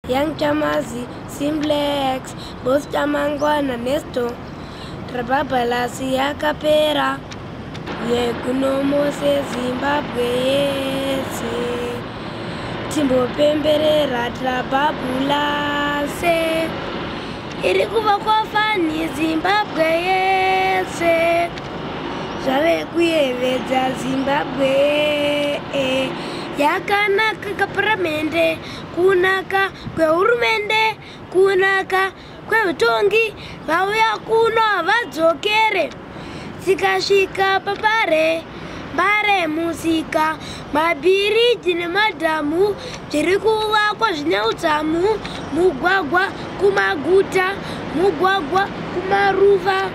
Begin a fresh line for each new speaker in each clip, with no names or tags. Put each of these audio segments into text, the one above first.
Young Chamazi, Simplex, Boss Chamangwana, Nesto, Trababalasi yakapera yekunomose Zimbabwe yese timbopemberera Trababalasi iri kuva kwafani Zimbabwe yese zvave kuyevedza Zimbabwe yakanaka kaparamende kunaka kwehurumende kunaka kwehutongi vauya kuno havadzokere tikasvika papare mbare musika mabhiriji nemadhamu zviri kuvakwa zvine utsamu mugwagwa kumaguta mugwagwa kumaruva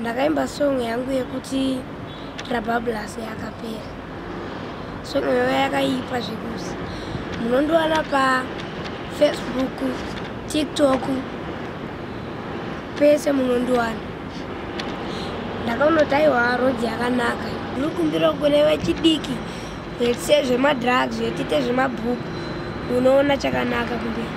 ndakaimba song yangu yekuti rabablas yakapera song iyoyo yakaipa zvekuti munondiwana pafacebook tiktok pese munondiwana ndakaunoti aiwa road yakanaka ndinokumbira kune vechidiki vese zvemadrugs vetite zvemabhuku unoona chakanaka kumberi